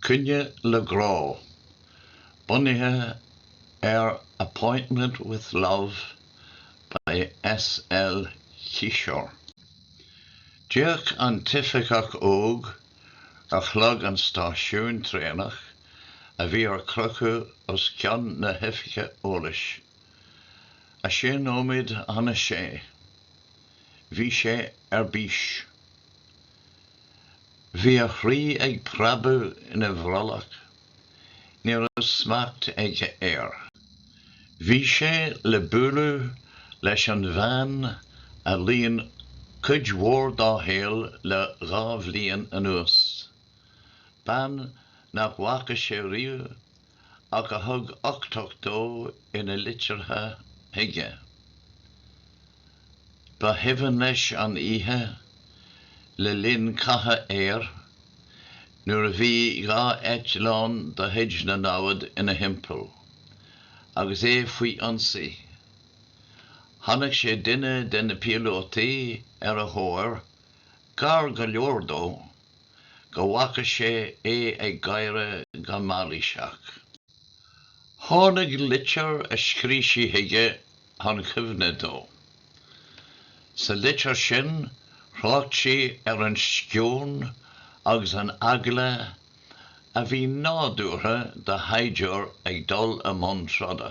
Coinne le Grá, bunaithe ar Appointment with Love by S. L. Kishore. D'fhéach an t-oifigeach óg ar chlog an stáisiúin traenach a bhí ar crochadh os cionn na hoifige eolais. A sé nóiméad chun a sé. Bhí sé ar bís. Bhí a chroí ag preabadh ina bhrollach. Ní raibh smacht aige air. Bhí sé le bualadh leis an bhean a líon cuid mhór dá shaol le dhá bhliain anuas. Bean nach bhfaca sé riamh. ach a thug uchtach dó ina litreacha chuige. Ba chuimhin leis an oíche le linn catha aeir nuair a bhí dhá eitleán de chuid na namhad ina thimpeall agus é faoi ionsaí. Chonaic sé duine de na píolótaí ar a thóir, gar go leor dó. go bhfaca sé é ag gáire go mailíseach. Tháinig litir a scríobh sí chuige chun cuimhne dó. Sa litir sin thrácht sí ar an sceon agus an eagla a bhí nádúrtha do shaighdiúr ag dul i mbun troda.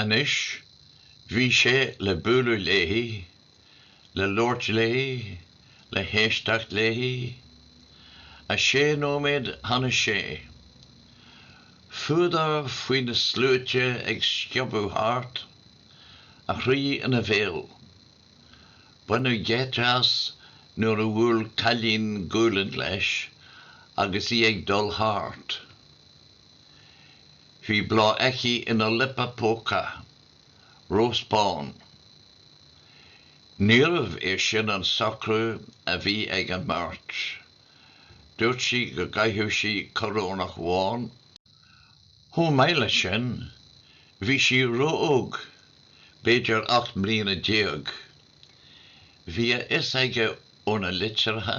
Anois, bhí sé le bualadh léi, le labhairt léi, le héisteacht léi. A sé nóiméad chun a sé. Fuadar faoi na sluaite ag sciobadh thart, a chroí ina bhéal. Baineadh geit as nuair a bhuail cailín gualainn leis agus í ag dul thart. Bhí bláth aici ina liopa póca. Rós bán. Níorbh é sin an socrú a bhí ag an mbeirt. Dúirt sí go gcaithfeadh sí coróineach bhán. Chomh maith le sin, bhí sí ró-óg, b'fhéidir ocht mbliana déag. Bhí a fhios aige óna litreacha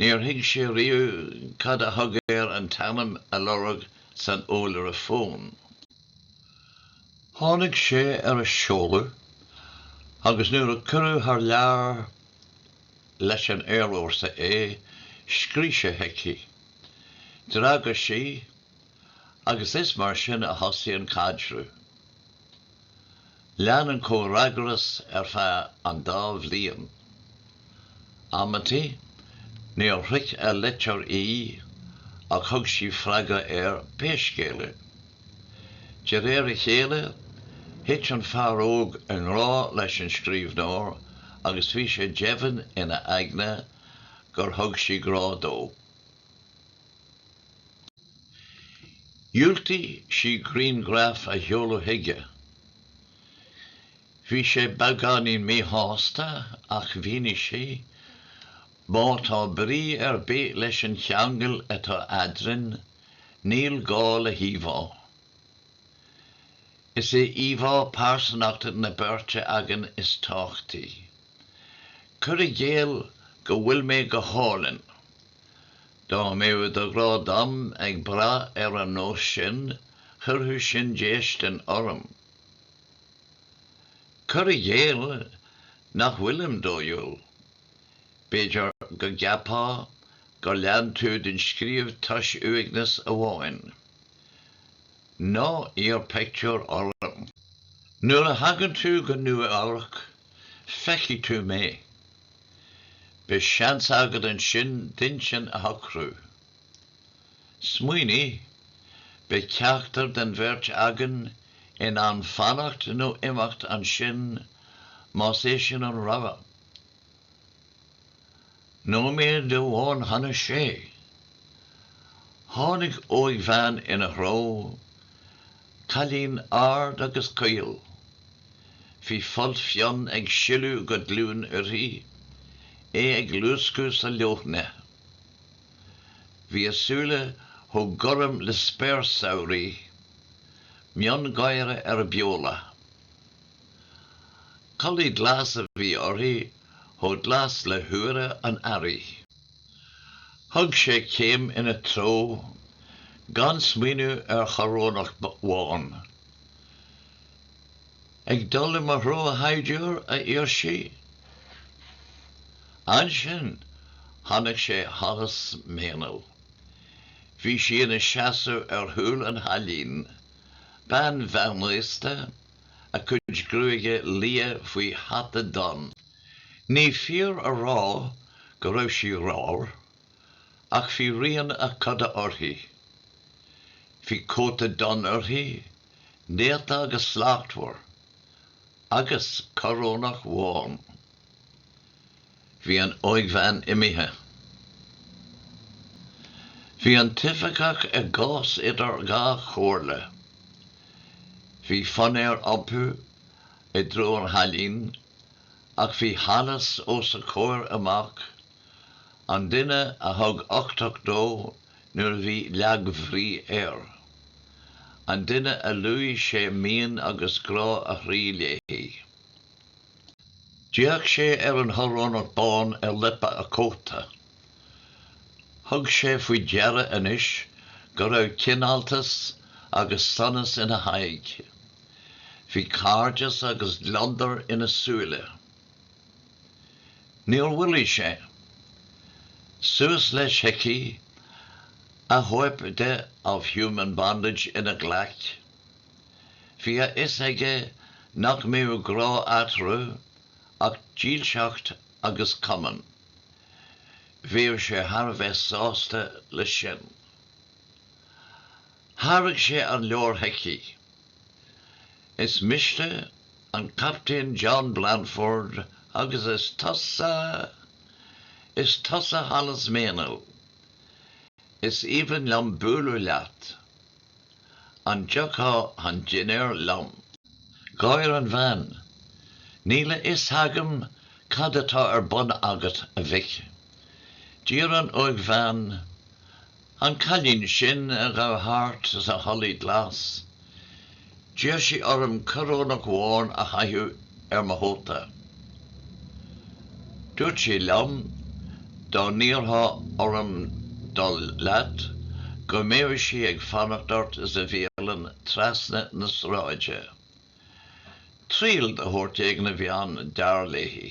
Níor thuig sé riamh cad a thug air an t-ainm a lorg san eolaire fóin. Tháinig sé ar a seoladh agus nuair a cuireadh thar lear leis an aerfhórsa é, scríobh sé chuici. D'fhreagair sí agus is mar sin a thosaigh an caidreamh. Lean an comhfhreagras ar feadh an dá bhliain. Amantaí níor shroich a litir í ach thug sí freagra air pé scéal é. De réir a chéile thit an fear óg i ngrá leis an scríbhneoir agus bhí sé deimhin in a aigne gur thug sí grá dó. Dhiúltaigh sí grianghraf a sheoladh chuige. Bhí sé beagáinín míshásta ach mhínigh sí, Má tá brí ar bith leis an cheangal atá eadrainn, níl gá le híomhá. Is é íomhá pearsanachta na beirte againn is tábhachtaí. Cuir i gcéill go bhfuil mé go hálainn. Dá mbeadh do ghrá dom ag brath ar an nós sin chuirfeadh sin déistin orm. Cuir i gcéill nach bhfuilim dóighiúil. B'fhéidir go gceapfá gur lean tú den scríobh toisc uaigneas amháin. Ná iarr pictiúr orm. Nuair a thagann tú go Nua-Eabhrac feicfidh tú mé. Beidh seans agad annsin d'intinn a shocrú. Smaoinigh, beidh ceachtar den bheirt againn in ann fanacht nó imeacht annsin má's é sin an rogha. Nóiméad amháin chun a sé. Tháinig óigbhean in a threo. Cailín ard agus caol. Bhí folt fionn ag sileadh go glúin uirthi, é ag luascadh sa leoithne. Bhí a súile chomh gorm le spéir samhraidh, miongháire ar a beola. Culaith glas a bhí uirthi, chomh glas le húire an earraigh. Thug sé céim in a treo gan smaoineamh ar choróineach bhán. Ag dul i mo threo a shaighdiúir, a iarr sí. Annsin chonaic sé Hollis Meynell. Bhí sí in a seasamh ar chúl an chailín, bean mheánaosta, a cuid gruaige liath faoi hata donn Ní fíor a rá go raibh sí ramhar, ach bhí rian a coda uirthi. Bhí cóta donn uirthi, néata agus slachtmhar, agus coróineach bhán. Bhí an óigbhean imithe. Bhí an t-oifigeach i gcás idir dhá chomhairle. Bhí fonn air iompú i dtreo an chailín Ach bhí Hollis os a comhair amach, an duine a thug uchtach dó nuair a bhí lagbhrí air. An duine a luaigh sé mian agus grá a chroí léi. D'fhéach sé ar an choróineach bán ar liopa a cóta. Thug sé faoi deara anois go raibh cineáltas agus sonas ina haghaidh. Bhí cairdeas agus gliondar ina súile. Níor mhoilligh sé. Suas leis chuici, a chóip de Of Human Bondage ina ghlaic. Bhí a fhios aige nach mbeadh grá eatarthu ach dílseacht agus cumann. Bheadh sé thar a bheith sásta leis sin. Thairg sé an leabhar chuici. Is mise an Captaen John Blandford agus is tusa, is tusa Hollis Meynell. Is aoibhinn liom bualadh leat. An dtiocfá chun dinnéir liom? Gháir an bhean. Níl a fhios agam cad atá ar bun agat, a mhic. D'iarr an óigbhean, an cailín sin a ghabh thart sa chulaith glas, D'iarr sí orm coróineach bhán a chaitheamh ar mo chóta. Dúirt sí liom, dá n-iarrfá orm dul leat, go mbeadh sí ag fanacht ort sa bhialann trasna na sráide. Triail de shórt éigin a bhí ann, dar léi.